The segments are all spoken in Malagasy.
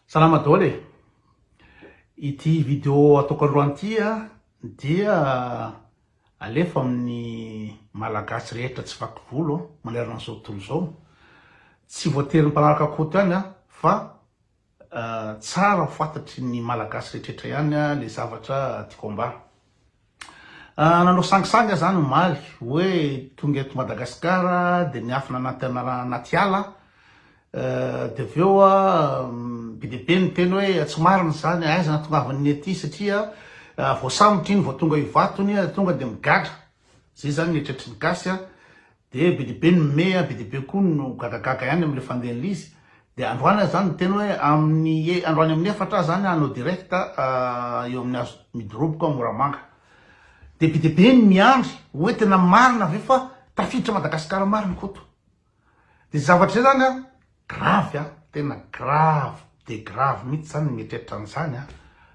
Salama daholo e! Ity video ataoko alohany ity dia alefa amin'ny Malagasy rehetra tsy vaky volo manerana an'izao tontolo izao. Tsy voatery ny mpanaraka Koto ihany fa tsara ho fantatry ny Malagasy rehetra rehetra ihany ilay zavatra tiako ambara. Nanao sangisangy aho izany omaly hoe tonga eto Madagasikara dia miafina anaty anaty ala dia avy eo be dia be ny teny hoe tsy marina izany aiza natongavan'ny ety satria voasambotra iny vao tonga io vatony tonga dia migadra izay izany ny eritreritry ny gasy Dia be dia be ny meya, be dia be koa no gagagaga ihany amin'ilay fandehan'ilay izy. Dia androany aho izany niteny hoe amin'ny e, androany amin'ny efatra aho izany hanao direct eo amin'ny hazo midoroboko ao Moramanga. Dia be dia be ny miandry hoe tena marina ve fa tafiditra Madagasikara marina Koto. Dia izay zavatra izay izany an, grave an, tena grave dia grave mihitsy izany ny mieritreritra an'izany an.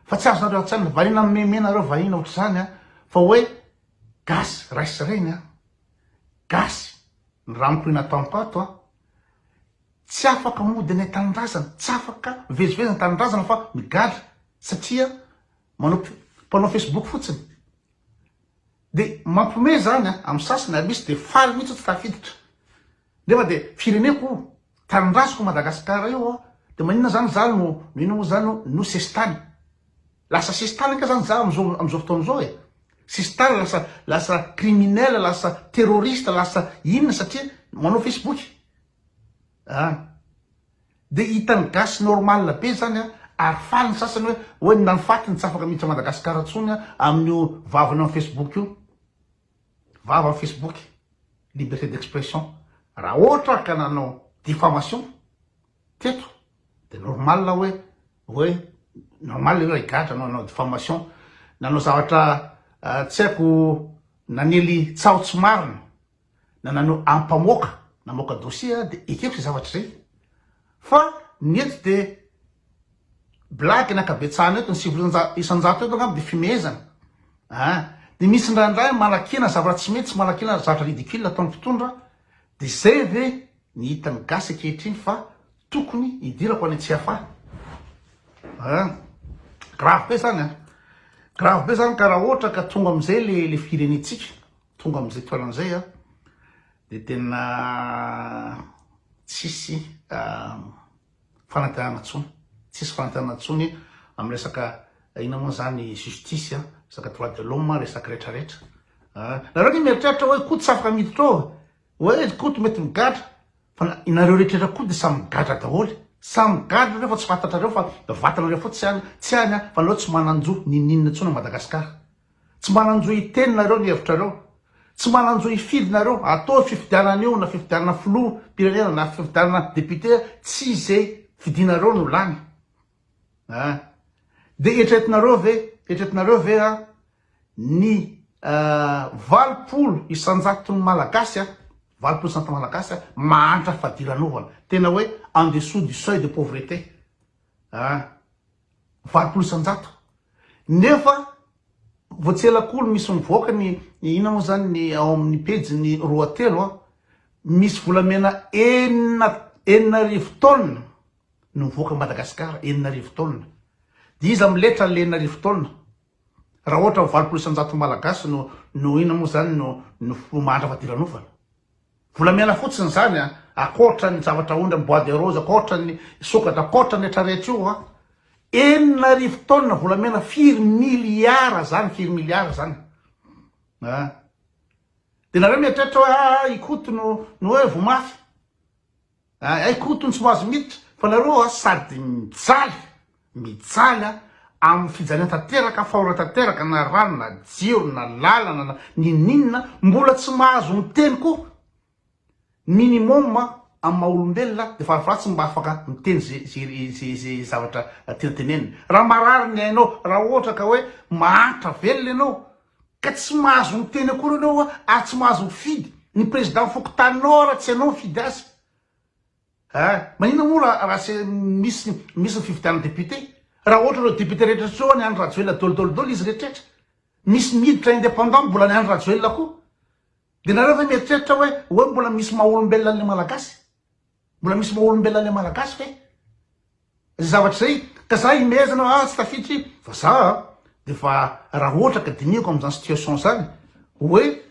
Fa tsy azonareo an-tsaina, variana mimeme nareo vahiny ohatr'izany an, fa hoe gasy ray sy reny an. Gasy ny ranonkoi nataonko ato a! Tsy afaka mody any an-tanindrazana, tsy afaka mivezivezy any an-tanindrazana fa migadra satria manao mpanao Facebook fotsiny. Dia mampiomehy izany a! Amin'ny sasany, ary misy dia faly mihitsy ato tafiditra. Nefa dia fireneko o! Tanindraziko Madagascar io o! Dia maninona zany za no ino moa zany o! no sesitany? Lasa sesitany ange zany za amin'izao amin'izao fotoana izao e! Sesitany lasa lasa criminel, lasa terroriste, lasa inona satria manao Facebook a! Dia hitan'ny gasy normal be zany a! Ary faly ny sasany hoe hoe ny nany faty no tsy afaka miditra Madagascar intsony amin'io vavany amin'ny Facebook io! Vava facebook, liberté d'expression, raha ohatra ka nanao diffamation teto dia normal hoe hoe normal io raha higadra no hanao diffamation, nanao zavatra tsy haiko nanely tsaho tsy marina na nanao ampamoaka namoaka dossier aho dia ekeko izay zavatra izay. Fa ny eto dia blague ny ankabetsahana eto, ny sivy isan-jato eto angamba dia fimehezana a! Dia misy indraindray manakena zavatra tsy mety sy manakena zavatra ridicule ataon'ny mpitondra, dia izay ve ny hitan'ny gasy ankehitriny fa tokony hidirako any Tsiafahy a! Grave be izany a! Grave be izany ka raha ohatra ka tonga amin'izay ilay firenentsika. Tonga amin'izay toerana izay aho dia tena tsisy fanantenana intsony, tsisy fanantenana intsony amin'ny resaka inona moa izany justice, resaka droit de l'homme, resaka rehetra rehetra. Nareo anie mieritreritra hoe Koto tsy afaka miditra ao, hoe ry Koto mety migadra, fa nareo rehetra rehetra koa dia samy migadra daholo, samy migadra nareo fa tsy fantatrareo fa vatanareo fotsiny tsy any, tsy any fa nareo tsy manan-jo n'inon'inona intsony ao Madagasikara. Tsy manan-jo hiteny nareo ny hevitrareo. Tsy manan-jo hifidy nareo. Ataovy fifidianana anio na fifidianana filoha mpirenena na fifidianana député tsy zay fidinareo no lany a. Dia eritreretinareo ve, eritreretinareo ve a ny valopolo isan-jaton'ny Malagasy a, valopolo isan-jaton'ny Malagasy a mahantra fadiranovana, tena hoe en dessous du seuil de pauvreté a. valopolo isan-jato nefa vao tsy ela koa no misy mivoaka ny inona moa zany ny ao amin'ny pejy ny roa telo a misy volamena enina enina arivo taonina no mivoaka Madagasikara enina arivo taonina dia iza amin'ny letra le enina arivo taonina raha ohatra ny valopolo isan-jato malagasy no no inona moa zany no no mahantra fadiranovana Volamiaina fotsiny izany a! Akoatra ny zavatra aondra ny bois de rose, akoatra ny sokatra, akoatra ny rehetra rehetra io a! Enina arivo tonnes volamena firy milliards izany, firy milliards izany a! Dia nareo mieritreritra hoe aah i Koto no hoe voa mafy. Hay Koto no tsy mahazo miditra fa nareo a sady mijaly mijaly a amin'ny fijaliana tanteraka fahora tanteraka na rano na jiro na lalana na ninoninona mbola tsy mahazo miteny koa minimum a amin'ny maha olombelona dia farafahakeliny tsy mba afaka miteny ze ze ze ze zavatra tiana tenenina raha marary ny ainao raha ohatra ka hoe mahantra velona ianao Ka tsy mahazo miteny akory anao hoa ary tsy mahazo mifidy ny président fokontaninao hoa raha tsy ianao mifidy azy a! Maninona moa raha raha tsy misy misy ny fifidianana député? Raha ohatra ireo député rehetra rehetra ireo any Andry Rajoelina dôly dôly dôly izy rehetra rehetra misy ny hiditra indépendant mbola any Andry Rajoelina koa dia nareo ve mieritreritra hoe hoe mbola misy maha olombelona anle Malagasy? Mbola misy maha olombelona ilay Malagasy ve izay zavatra izay? Ka za imehezana hoe ah tsy tafiditra io fa za dia efa raha ohatra ka dinihako amin'izany situation izany hoe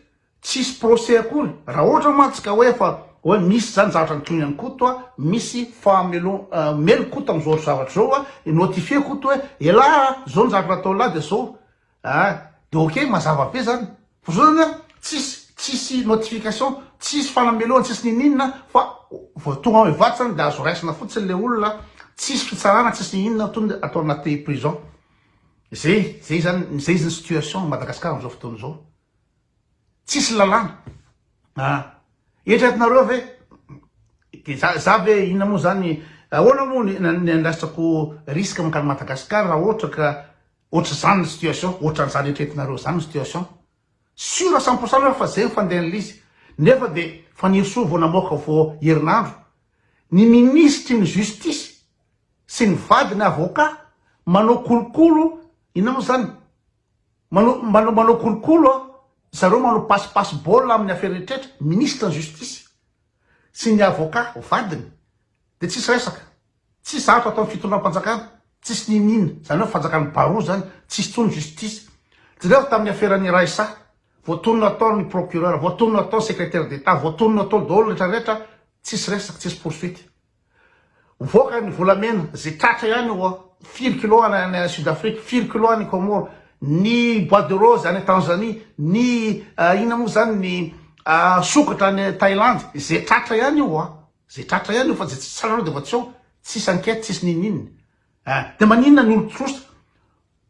tsisy procès akory raha ohatra mantsy ka hoe efa hoe misy izany zavatra nitohiny an'i Koto a, misy fahamelo- omeny Koto amin'izao zavatra izao a, notifier Koto hoe elah a, izao ny zavatra nataon'lah dia izao. Ah de ok mazava be zany fa zao zany tsisy tsisy notification tsisy fanamelohana tsisy ninininona fa vao tonga ao Ivato zany de azo raisina fotsiny le olona tsisy fitsarana tsisy ninininona to de atao anaty prison zay zay zany zay zany situation Madagascar amizao fotoana zao tsisy lalàna ah eritreretinareo ve de za za ve inona moa zany ahoana moa ny andraisako risque mankany Madagascar raha ohatra ka Otrzany ny situation, otran'izany eritreretinareo izany ny situation. Sur cent pour cent nareo fa zay ny fandehan'l'izy. Nefa dia Fanirisoa vao namoaka vao herinandro, ny minisitry ny justice sy ny vadiny avocat manao kolokolo, inona moa izany, manao manao kolokolo zareo manao passe passe ball amin'ny affaire rehetra, minisitry ny justice sy ny avocat vadiny. Dia tsisy resaka. Tsisy zavatra ataon'ny fitondram-panjakana. Tsisy n'inon'inona. Izany hoe fanjakan'i Baroa izany. Tsisy intsony justice. Jereo tamin'ny aferan'i Raissa. Voatonona atao ny procureur. Voatonona atao ny secretaire d'Etat. Voatonona atao daholo rehetra rehetra. Tsisy resaka. Tsisy poursuite. Mivoaka ny volamena. Izay tratra ihany oa. Firy kilo any Sud Afrique. Firy kilo any Comores. Ny bois de rose any Tanzanie. Ny inona moa izany ny sokatra any Thailandy. Izay tratra ihany io oa. Zay tratra ihany eo fa zay tsy tsara aloha de efa tsy eo, tsisy enquête tsisy nininininy eh, de maninona ny olotrosa,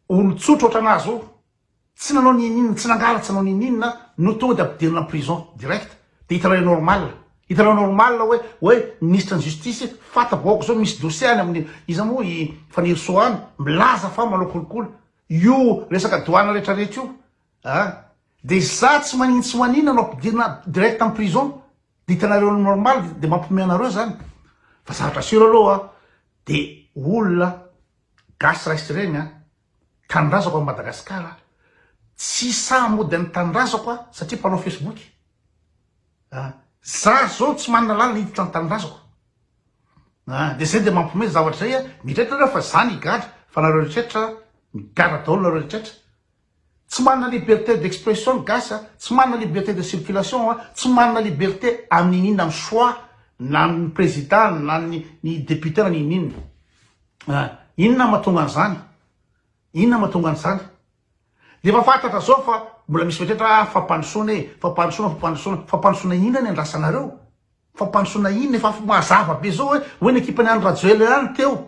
olotsotra otrana ahy zao tsy nanao nininininy, tsy nangaha tsy nanao ninininina no tonga de ampidirina prison direct de hitanao le normal, hitanao normal hoe hoe ministre ny justice fata bahoaka zao misy dossier any aminy iza mo i Fanirisoa any milaza fa manao kolikoly io resaka doana rehetra rehetra io ah de za tsy manino tsy maninona no ampidirina direct am prison. Dia hitanareo normal dia mampihomehy anareo zany fa zavatra seho aloha dia olona gasy ray sy reny tanindrazako any Madagascar tsy sahy mody any tanindrazako satria mpanao facebook a za zao tsy manana lalana hiditra any tanindrazako a dia zay dia mampihomehy zavatra zay a mieritreritra nareo fa za ny gadra fa nareo rehetra migadra daholo nareo rehetra Tsy manana liberté d'expression ny gasy a, tsy manana liberté de circulation a, tsy manana liberté amin'ny inona ny choix na ny président na ny ny député na ny inona inona a! Inona mahatonga an'izany? Inona mahatonga an'izany? Dia efa fantatra zao fa mbola misy fetratra ah fampandrosoana e, fampandrosoana, fampandrosoana, fampandrosoana inona ny andrasanareo? Fampandrosoana inona? Efa mazava be zao hoe hoe ny ekipan'i Andry Rajoelina ihany teo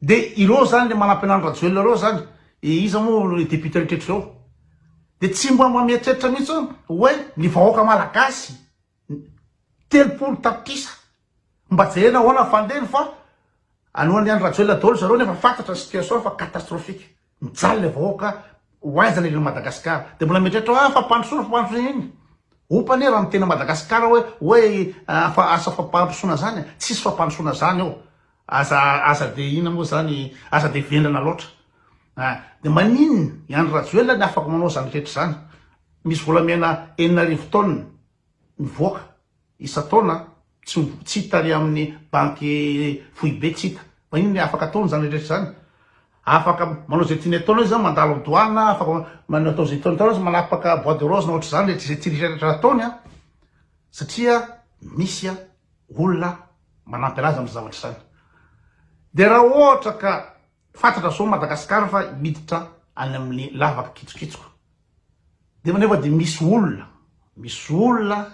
De ireo zany le manampy anany Rajoelina reo zany e iza moa le député mitretra zao de tsy mba mba mieritreritra mihitsy hoe hoe ny vahoaka malagasy telopolo tapitrisa mba jerena ahoana fandehany fa anoany any Rajoelina daholo zareo nefa fantatra ny situation fa catastrophique. Mijaly le vahoaka ho aiza le ilan'i Madagascar de mbola mieritreritra hoe ah fampandrosoana fampandrosoana inn opa anie raha miteny Madagascar hoe hoe afa asa fampandrosoana zany a tsisy fampandrosoana zany eo aza aza de inn moa zany aza de vendrana loatra a de manin i Andry Rajoelina ny afaka manao zany rehetra zany misy volamena enina arivo taonina mivoaka isan-taona tsy tsy hita ary amin'ny banky foibe tsy hita. Maninona ny afaka ataony izany rehetra izany? Afaka manao izay tiany ataonao izy mandalo amin'ny douane afaka manao atao izay tiany ataonao izy manapaka bois de rose na ohatr'izany rehetra izay tiany rehetra ataony an! satria misy an! olona manampy anazy amin'ny zavatra izany dia raha ohatra ka Fatratra zao Madagascar fa miditra any amin'ny lavaka kitsokitsoka. Dia nefa dia misy olona, misy olona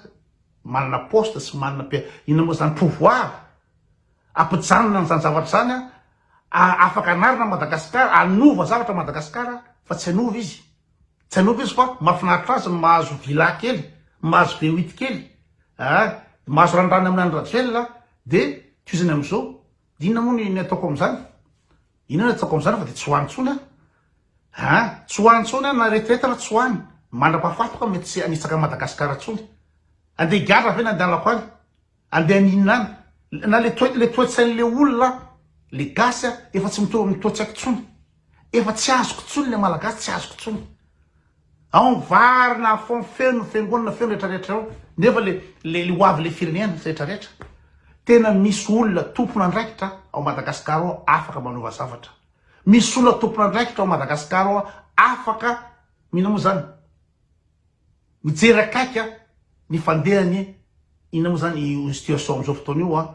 manana poste sy manana mpi, inona moa zany, pouvoir, ampijanona an'izany zavatra izany an, afaka hanarina Madagascar, hanova zavatra Madagascar fa tsy hanova izy, tsy hanova izy fa mahafinaritra azy ny mahazo villa kely, mahazo be huit kely, ah, mahazo ranirany amin'i Andry Rajoelina dia tohizany amin'izao. Inona moa ny ataoko amin'izany? Inona ny ataoko amin'izany fa dia tsy ho any intsony aho. Ah, tsy ho any intsony aho na retraite aho tsy ho any. Mandra-pahafatiko aho mety tsy hanitsaka an'i Madagasikara intsony. Andeha higadra ve ny andehanako any? Andeha haninona any? Na le toe- le toe-tsain'ilay olona le gasy a, efa tsy mitovy amin'ny toe-tsaiko intsony. Efa tsy azoko intsony le malagasy, tsy azoko intsony. Ao ny vary na feo feno fiangonana feno rehetra rehetra eo nefa le le ho avy le firenena rehetra rehetra tena misy olona tompon'andraikitra ao Madagascar ao afaka manova zavatra misy olona tompon'andraikitra ao Madagascar ao afaka mina moa zany mijery akaika ny fandehan'ny ina moa zany io situation am'izao fotoana io a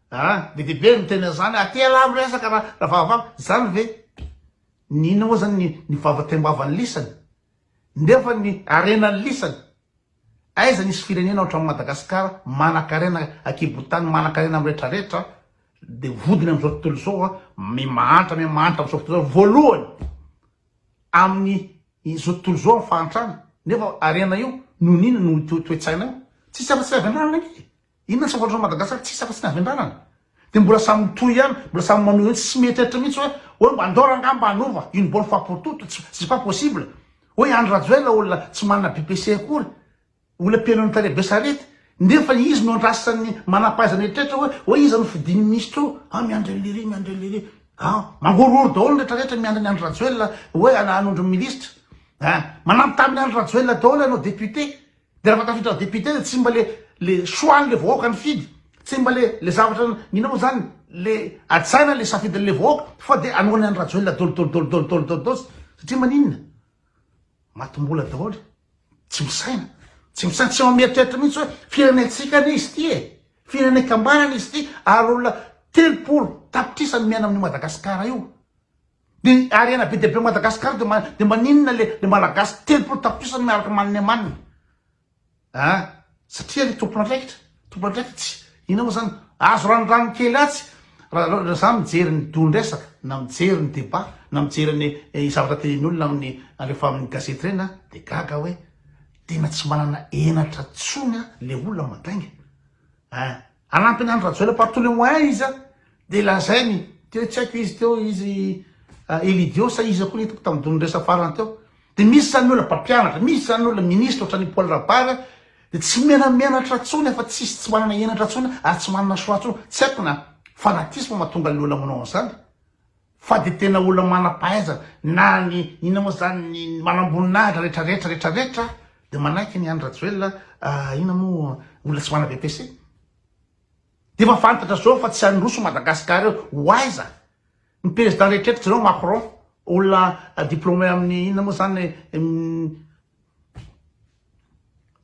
Ah! Be dia be ny miteny an'izany ah! Te alalo resaka ra Ravalomanana, izany ve ny inona moa izany ny ny vava taimbavany lisany? Nefa ny harenany lisany? Aiza nisy firenena ohatran'i Madagasikara manankarena an-kibon-tany, manankarena amin'ny rehetra rehetra dia vodiny amin'izao tontolo izao ah! Mia mahantra mia mahantra amin'izao fotoana izao, voalohany amin'ny izao tontolo izao amin'ny fahantrana, nefa harena io noho ny inona? Noho io toe-tsaina io? Tsisy afa-tsy fiavianana ange e! Inona tsy fantatrao Madagascar tsisy afa tsy ny havendranana de mbola samy mitohy ihany mbola samy manohy hoe tsy mety etra mihitsy hoe hoe mba andao rangah mba hanova une bonne fois pour toute tsy c'est pas possible hoe Andry Rajoel olona tsy manana BPC akory olona mpiheno ny tale be sarety nefa izy no andrasan'ny manampahaizana eritreretra hoe hoe iza no fidin'ny minisitra eo ah miandry an'le ry miandry an'le ry ah mangorohoro daholo ny retraretra miandry ny Andry Rajoel hoe hanondro ny minisitra ah manampy tamin'ny Andry Rajoel daholo ianao député De raha vao tafiditra ho député de tsy mba le le choix anle vahoaka nifidy, tsy mba le le zavatra ninao zany le ajaina le safidinle vahoaka fa de anao ny an'i Rajoelina dol dol dol dol dol dol dols satria maninona? Matimbola daholo, tsy misaina, tsy misaina, tsy mieritreritra mihitsy hoe firenentsika anie izy ty e, firenenkambana anie izy ty ary olona telopolo tapitrisa no miaina amin'io Madagasikara io. Ny harena be dia be Madagascar de de maninona le le malagasy telopolo tapitrisa miaraka man ne man a satria le tompon andraikitra tompon andraikitra tsy ina mo zany azo ranodrano kely atsy ra za mijery ny don resaka na mijery ny debat na mijery ny eh, zavatra tenin olona amin'ny alefa amin'ny gazety reny a de gaga hoe tena tsy manana enatra tsony a le olona mandainga Eh! Hanampy ny Andry Rajoelina par tous les moyens izy a! Dia lazainy, teo tsy haiko izy teo izy Elidiot sa iza koa ny hitako tamin'ny donidresa farany teo. Dia misy izany olona mpampianatra, misy izany olona ministra ohatran'i Paul Rabary dia tsy menamenatra intsony afa tsy izy tsy manana henatra intsony ary tsy manana choix intsony. Tsy haiko na fanatisme mahatonga an'ilay olona manao an'izany. Fa dia tena olona manam-pahaizana na ny inona moa izany ny manamboninahitra rehetra rehetra rehetra rehetra dia manaiky ny Andry Rajoelina inona moa olona tsy mana-BEPC. Dia efa fantatra izao fa tsy handroso Madagascar eo. Ho aiza? Ny président rehetra eto jereo Macron olona diplômé amin'ny inona moa izany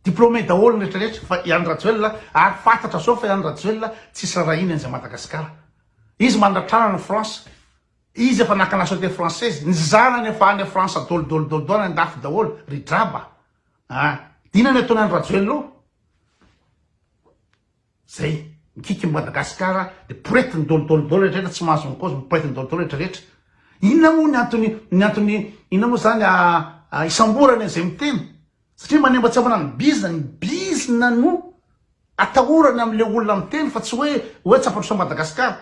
Diplômé daholo ny rehetra rehetra fa i Andry Rajoelina ary fantatra soa fa i Andry Rajoelina tsisy rarahiany an'izay Madagascar. Izy mandratrana any France, izy efa naka nationalité française, ny zanany efa any France dol dol dol dol any andafy daholo, ry draba a! Dina ny ataony Andry Rajoelina io. Zay. Mikiky ny Madagasikara de porety ny dol dol dol rehetra tsy mahazo ny cause miporety ny dol dol rehetra rehetra. Inona moa ny antony ny antony inona moa zany ah isamborana izay miteny satria manemba tsy avana ny bizina ny bizina no atahorana am le olona miteny fa tsy hoe hoe tsy ampandrosoa Madagasikara.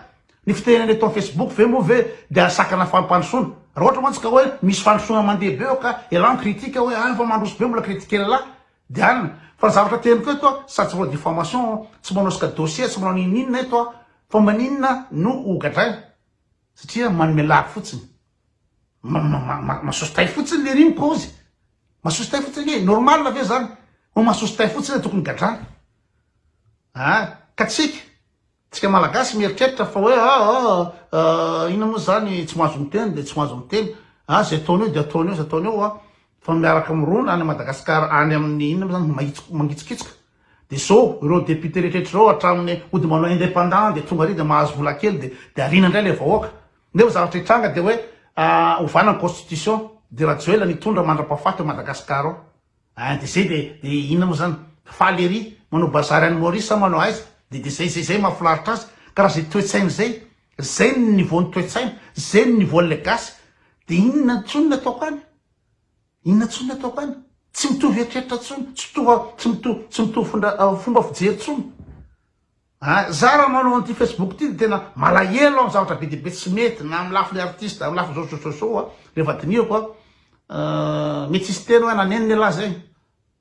Ny fitenenana eto am Facebook ve moa ve de asakana fampandrosoana. Raha ohatra mantsy ka hoe misy fandrosoana mandeha be eo ka elah ny critique hoe ah efa mandroso be mbola critiquer lelah. Diana, fa ny zavatra teniko eto a, sady tsy manao diffamation, tsy manosika dossier, tsy manao n'inon'inona eto aho, fa maninona no hogadraina? satria manome lagy fotsiny, masosotay fotsiny lery ny kaozy, masosotay fotsiny ange e, normal ve zany ho masosotay fotsiny le tokony gadraina a, ka tsika. Tsika malagasy mieritreritra fa hoe ah ah ah inona moa izany tsy mahazo miteny dia tsy mahazo miteny ah izay ataony eo dia ataony eo izay ataony eo ah fa miaraka mirona any Madagascar any amin'ny inona moa izany mahitsiko mangitsokitsoka dia izao ireo député rehetra ireo hatramin'ny ody manao indépendant dia tonga ary dia mahazo vola kely dia dia ariana indray ilay vahoaka nefa zavatra hitranga dia hoe ah ovana ny constitution dia Rajoelina ny hitondra mandra-pahafaty ao Madagascar ao Hein de zay de de inona moa zany? Faly ery manao bazary any Maurice sa manao aiza? De de zay zay zay mahafinaritra azy ka raha zay toetsaina zay zay ny niveau ny toetsaina zay ny niveau an'ilay gasy de inona tsony ny ataoko any? Inona tsony ny ataoko any? Tsy mitovy eritreritra tsony, tsy mitovy tsy mitovy tsy mitovy fomba fijery tsony. An, za raha manao an'ity Facebook ity dia tena malahelo aho, zavatra be dia be tsy mety na amin'ny lafiny artiste, amin'ny lafiny zao zao zao an, rehefa dinihako an, mety tsy hisy teny hoe nanenina ialahy zay,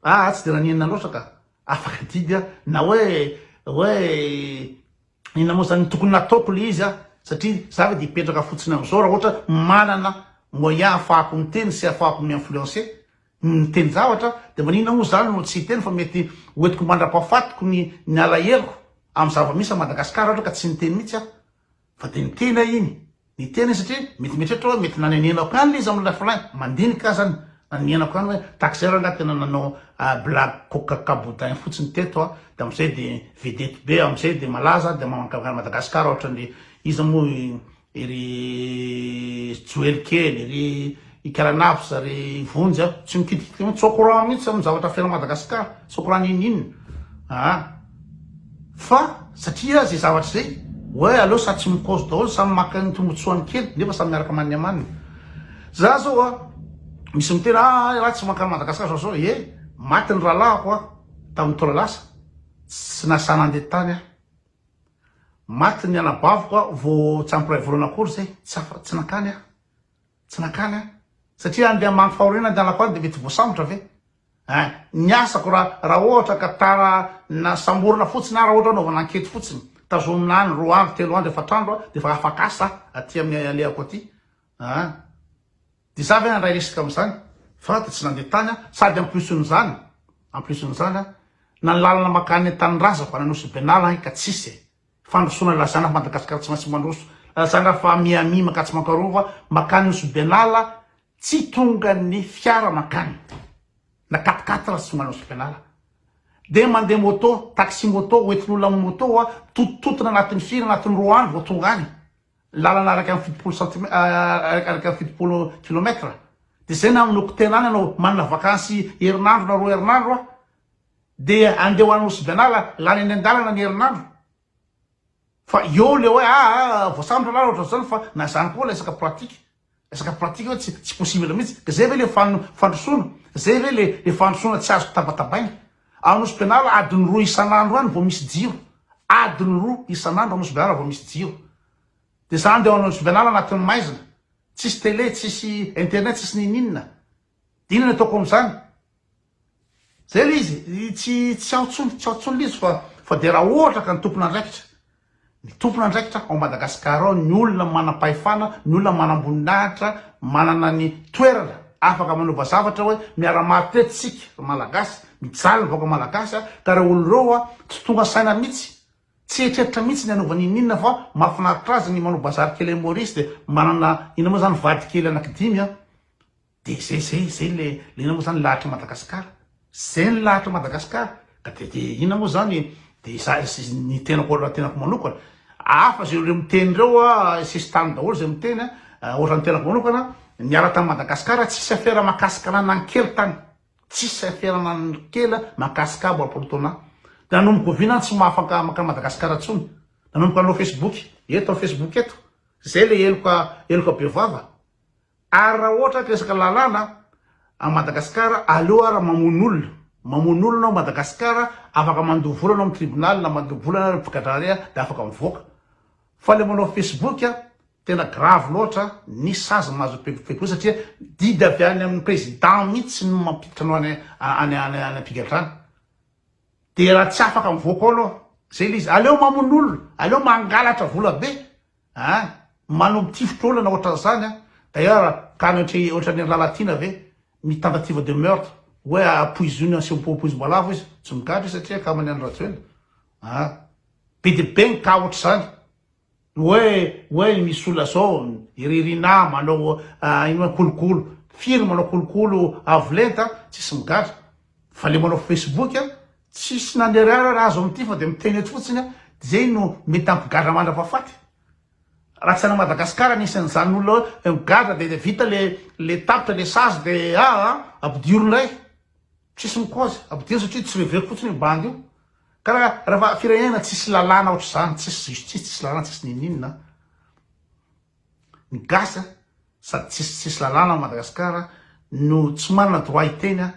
aa tsy dia nanenina loatra ka, afaka adidy an, na hoe hoe inona moa zany no tokony nataoko le izy an, satria za ve dia hipetraka fotsiny amin'izao raha ohatra manana moyen ahafahako miteny sy ahafahako mi-influencer, miteny zavatra dia maninona moa zany no tsy hiteny fa mety hoentiko mandra-pahafatiko ny ny alaheloko amin'ny zava-misy a Madagascar ohatra ka tsy niteny mihitsy aho fa dia niteny aho iny niteny satria mety mieritreritra hoe mety nanenenako ihany le izy amin'ny lafilay mandinika aza any nanenenako ihany hoe tahaka izay rangahy tena nanao blague coca caboudin fotsiny teto a dia amin'izay dia vedette be amin'izay dia malaza dia mankany Madagascar ohatra ny iza moa Ry joely kely, ry ikaranafza, ry vonjy a, tsy mikitikitika mihitsy, tsy au courant mihitsy amin'ny zavatra fiainan'i Madagascar, tsy au courant n'inon'inona aa, fa satria zay zavatra zay, oe aleo samy tsy mikaozo daholo, samy maka ny tombotsoany kely, nefa samy miaraka amaniny amaniny, za zao a, misy miteny a hay ra tsy mankany Madagascar zao zao, ye maty ny rahalahiko a, tamin'ny taona lasa, tsy nasahy nandeha tany aho. Maty ny anabaviko aho vao tsy ampy iray volana akory izay, tsy afa, tsy nankany aho, tsy nankany aho, satria andeha hamaky fahoriana ny anako any dia mety voasambotra ve eh? Ny asako raha, raha ohatra ka tara na samborina fotsiny aho, raha ohatra hanaovana ankety fotsiny, tazomina any roa andro, telo andro, efatra andro aho dia efa afaka asa aty amin'ny alehako aty ah. Dia za ve handray risque amin'izany? Fa dia tsy nandeha tany aho, sady en plus n'izany, en plus n'izany an, na ny lalana mankany an tanindrazako any Anosy Benala any ka tsisy e! Fandrosoana ilazana fa Madagascar tsy maintsy mandroso, lazana fa Miami mankatso Mankarova, mankany Nosy Benala tsy tonga ny fiara mankany, na quatre quatre tsy tonga any Nosy Benala, dia mandeha moto, taxi moto, hoentin'olona amin'ny moto, mitotototona anatin'ny firy, anatin'ny roa andro vao tonga any, Lalana araka ny fitopolo centime araka ny fitopolo kilomètre de zay na amin'oko tena any anao manana vakansy herinandro na roa herinandro a de andeha ho any Nosy Bianala lany any an-dalana ny herinandro fa eo le hoe aa voasambotra na ohatr'izany fa na zany koa resaka pratique Resaka pratique hoe tsy tsy possible mihitsy. Ka zay ve le fan fandrosoana? Zay ve le le fandrosoana tsy azoko tabatabaina? Ao Nosy-Benala adiny roa isan'andro any vao misy jiro. Adiny roa isan'andro ao Nosy-Benala vao misy jiro. De zany de ao Nosy-Benala anatin'ny maizina. Tsisy télé, tsisy internet, tsisy ninoninona. Inona ny ataoko amin'izany? Zay le izy, tsy tsy ao tsony, tsy ao tsony le izy fa fa dia raha ohatra ka ny tompon'andraikitra, ny tompon'andraikitra ao Madagascar ao, ny olona manam-pahefana, ny olona manam-boninahitra, manana ny toerana afaka manova zavatra hoe miara-maty teto isika ry Malagasy, mijaly ny vahoaka Malagasy ka ireo olona ireo tsy tonga saina mihitsy. Tsy eritreritra mihitsy ny hanaovany ininona fa mahafinaritra azy ny manao bazary kely any Maurice dia manana inona moa zany vady kely anaky dimy an! Dia zay zay zay le le inona moa zany lahatry Madagascar zay ny lahatry Madagascar ka dia dia inona moa zany dia iza ny tenako raha tenako manokana hafa zay ireo miteny ireo an! sesitany daholo izay miteny an! ohatra ny tenako manokana niala tany Madagascar tsisy afera mahakasika anah na ny kely tany Tsisy saiferana ny kely mankasikabo apolotona nanomboka oviana ny tsy mahafanka makany Madagascar tsony nanomboka nanao Facebook eto am Facebook eto zay le heloka heloka be vava ary raha ohatra ka resaka lalàna am Madagascar aleo ara mamono olona mamono olona ao Madagascar afaka mandoa vola anao am tribunal na mandoa bola na mpigadrahare de afaka mivoaka fa le manao Facebook Tena grave loatra ny sazy mahazo pegopego io satria didy avy any amin'ny président mihitsy no mampiditra anao any any any am-pigadrana. Dia raha tsy afaka mivoaka ao aloha zay le izy aleo mamono olona, aleo mangalatra vola be a! manao tifitra olona ohatran'izany a! D'ailleurs tany ohatry ohatran'i Andry Lalatiana ve ny tentative de meurtre hoe apoizoina asio poizim-boalavo izy, tsy migadra izy satria akaman'i Andry Rajoelina a! be dia be ny cas ohatr'izany. Oe oe misy olona zao i Ririnà manao ino a kolokolo, firy manao kolokolo avo lenta a, tsisy migadra, fa le manao facebook a tsisy nanirara ra azo amty fa de miteny eto fotsiny a, de zay no mety ampigadra mandrapafaty, ra tsy ana Madagascar nisy anzany olona oe migadra de vita le tapitra le sazy de aa ampidiro ndray. Tsisy mikozy, abdio satria tsy reveko fotsiny io bandy io. Karaha rafa firenena tsisy lalàna ohatr'izany, tsisy justice, tsisy lalàna, tsisy ninoninona an. Ny gasy an, sady tsisy tsisy lalàna ao Madagascar no tsy manana droit hiteny an,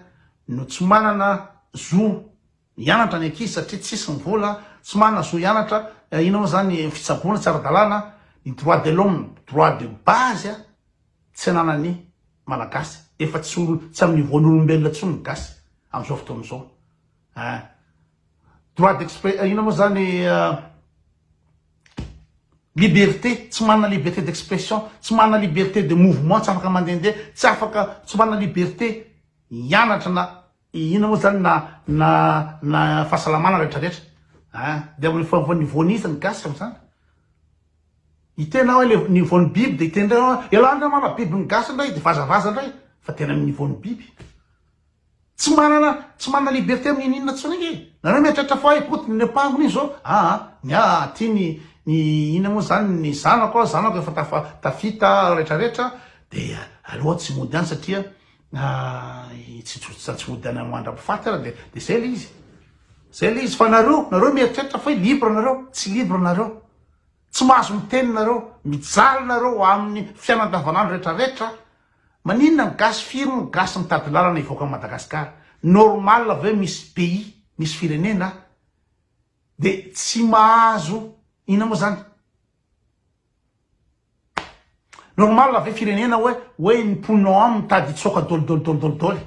no tsy manana zo hianatra ny ankizy satria tsisy ny vola, tsy manana zo hianatra, inona moa zany ny fitsaboana tsy ara-dalàna, ny droit de l'homme, droit de base an. Tsy ananan'ny Malagasy, efa tsy tsy amin'ny niveau-n'olombelona intsony ny gasy amin'izao fotoana izao eh. Droit d'expré inona moa izany liberté, tsy manana liberté d'expression, tsy manana liberté de mouvement, tsy afaka mandehandeha, tsy afaka, tsy manana liberté hianatra na Inona moa zany na na na fahasalamana rehetra rehetra ah de amin'ny fomba niveau n'iza ny gasy amin'izany? Hiteny aho le niveau ny biby de hiteny indray aho elah ndray mama biby ny gasy indray de vazavaza indray fa tena amin'ny niveau ny biby tsy manana tsy manana liberté amin'ny inona inona tsony nge nareo mieritreritra fa hoe potiny ny ampangony iny zao aa ny ah aty ny ny inona moa zany ny zanako aho zanako efa tafa tafita rehetra rehetra de aleo aho tsy mody any satria Na i tsitsotsitra tsy hody any amin'ny mandra-pifaty ary dia dia izay ilay izy. Izay ilay izy fa nareo, nareo mieritreritra fa hoe libre nareo, tsy libre nareo. Tsy mahazo miteny nareo, mijaly nareo ho amin'ny fiainana andavanandro rehetra rehetra. Maninona ny gasy, firy ny gasy mitady lalana hivoaka an'i Madagasikara? Normal ve hoe misy pays, misy firenena dia tsy mahazo inona moa izany? Normal ve firenena oe oe ny mponina ao aminy mitady hitsoaka dolidoly-dolidoly-doly?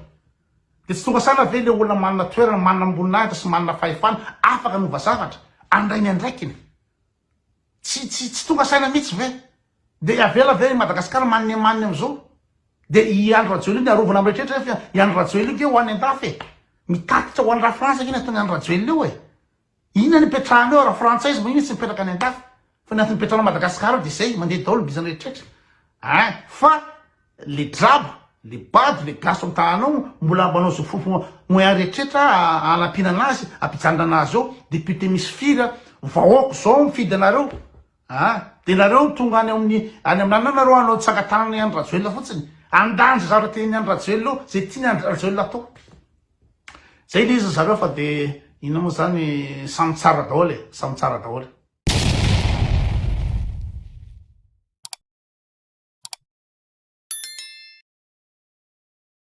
Dia tsy tonga saina ve ilay olona manana toerana, manana amboninahitra sy manana fahefana afaka hanova zavatra, handray ny andraikiny? Tsy tsy tsy tonga saina mihitsy ve? Dia hiavela ve i Madagasikara maninemanina amin'izao? Dia i Andry Rajoelina dia arovana amin'ny rehetra rehetra fa i Andry Rajoelina io ve ho any an-dafy e? Mitatitra ho any Lafrantsa ve ny ataon'i Andry Rajoelina io e? Inona no ipetrahanao raha frantsay izy moa iny tsy mipetraka any andafy fa ny antony ipetrahanao Madagascar ao dia zay mandeha daolo bizany rehetrretra hein fa le draba le bado le gasy ao amtahanao mbola manao zo fofo moyen rehetrretra hanapinana azy ampijanonana azy ao député misy firy a vahoako zao mifidy anareo a de nareo tonga any amin'ny any aminana nareo hanao tsangatanana i Andry Rajoelina fotsiny handanja zavatra tiany Andry Rajoelina ao zay tiany Andry Rajoelina atao Zay le izy ry zareo fa dia inona moa zany samy tsara daholo e, samy tsara daholo.